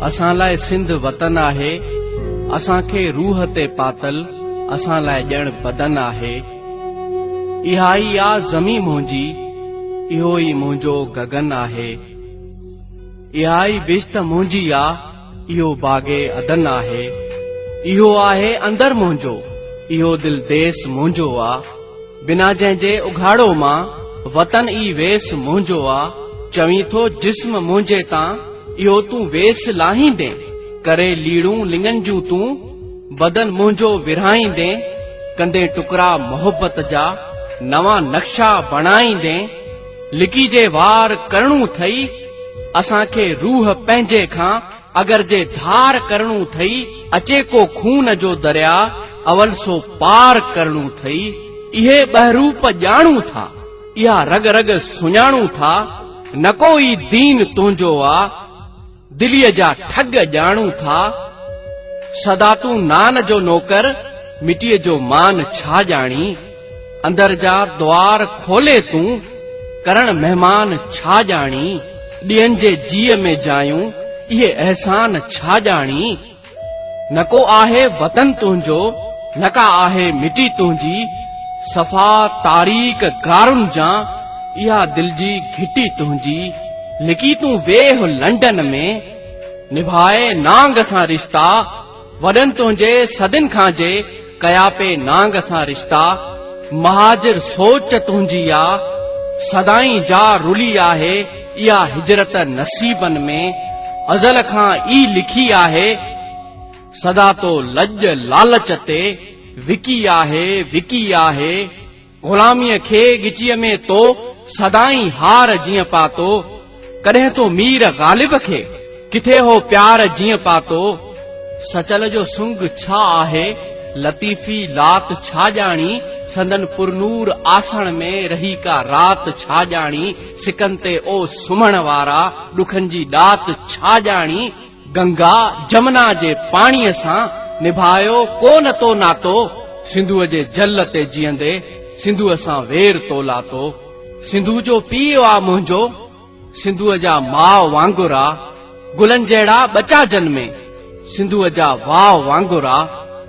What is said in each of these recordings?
اسان لاء سنڌ وطن آهي اسان کي روح تي پاتل اسان لاء ڄڻ بدن آهي اها ئي آ زمين منهنجي اهو ئي منهنجو گگن آهي اها ئي بشت منهنجي آ اهو باغ عدن آهي اهو آهي اندر منهنجو اهو دل ديس منهنجو آ بنا جنهن جي اگهاڙو مان، وطن ئي ويس منهنجو آ، چوين ٿو جسم منهنجي تان، اهو تون ويس لاهيندين، ڪري ليڙون لڱن جون تون، بدن منهنجو ورهائيندين، ڪندين ٽڪرا محبت جا، نوان نقشا بڻائيندين، لڪي جي وار ڪرڻون ٿئي، اسان کي روح پنهنجي کان، اگر جي ڌار ڪرڻو ٿئي اچي ڪو خون جو دريا اول سو پار ڪرڻو ٿئي اهي ٻهروپ ڄاڻون ٿا اها رڳ رڳ سڃاڻون ٿا نڪو ئي دين تنهنجو آ دلي جا ٺڳ ڄاڻون ٿا سدا تون نان جو نوڪر مٽي جو مان ڇا ڄاڻي اندر جا دوار کولي تون، ڪرڻ مهمان ڇا ڄاڻي، ٻين جي جيء ۾ جايون، اهي احسان ڇا ڄاڻي، نه ڪو آهي وطن تنهنجو، نه ڪا آهي مٽي تنهنجي، صفا تاريڪ غارن جان، اها دل جي گهٽي تنهنجي، لڪي تون ويهه لنڊن ۾، نڀاء نانگ سان رشتا، وڏن تنهنجي صدين کان جي ڪيا پي نانگ سان رشتا مهاجر سوچ تنهنجي آ سدائين جا رلي آهي اها هجرت نصيبن ۾ ازل کان ئي لکي آهي سدا تو لڄ لالچ تي وڪي آهي وڪي آهي غلاميء کي ڳچيء ۾ تو سدائين هار جيئن پاتو، ڪڏهن تو مير غالب کي ڪٿي هو پيار جيئن پاتو. سچل جو سنگ ڇا آهي لطيفي لات ڇا ڄاڻي سندن پرنور آسڻ ۾ رهي ڪا رات ڇا ڄاڻي سڪن تي او سمهڻ وارا ڏکن جي ڏات ڇا ڄاڻي. گنگا جمنا جي پاڻيء سان نڀايو ڪو نه تو ناتو، سنڌوء جي جل تي جيئندي سنڌوء سان وير تو لاتو، سنڌوء جو پيء آ منهنجو، سنڌوء جا ماء وانگر آ، گلن جهڙا ٻچا جنمي، سنڌوء جا واء وانگر آ،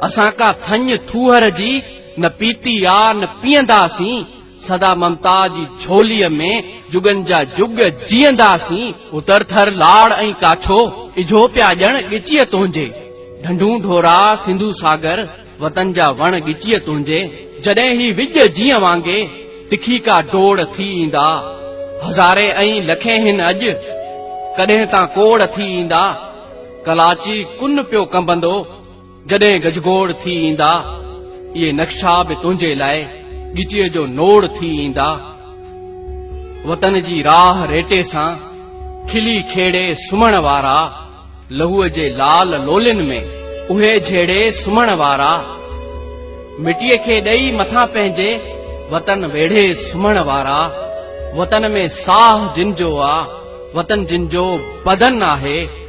اسان ڪا ٿڃ ٿوهر جي نه پيتي آ نه پيئندا سين، سدا ممتا جي جھوليء ۾ جڳن جا جڳ جيئنداسين. اتر ٿر لاڙ ۽ ڪاڇو، اجھو پيا ڄڻ ڳچيء تنهنجي. ڍنڍون ڍورا، سنڌو ساگر، وطن جا وڻ ڳچيء تنهنجي. جڏهن هي وڄ جيئن وانگي، تکي ڪا ڊوڙ ٿي ايندا. هزارين ۽ لکين هن اڄ، ڪڏهن تان ڪوڙ ٿي ايندا. ڪلاچي ڪن پيو ڪنبندو. جڏهن گجگوڙ ٿي ايندا، اهي نقشا به تنهنجي لاء ڳچيء جو نوڙ ٿي ايندا. وطن جي راهه ريٽي سان کلي کيڙي سمهڻ وارا، لهوء جي لال لولين ۾ اهي جهيڙي سمهڻ وارا، مٽيء کي ڏئي مٿان پنهنجي وطن ويڙهي سمهڻ وارا، وطن ۾ ساهه جن جو آ، وطن جن جو بدن آهي،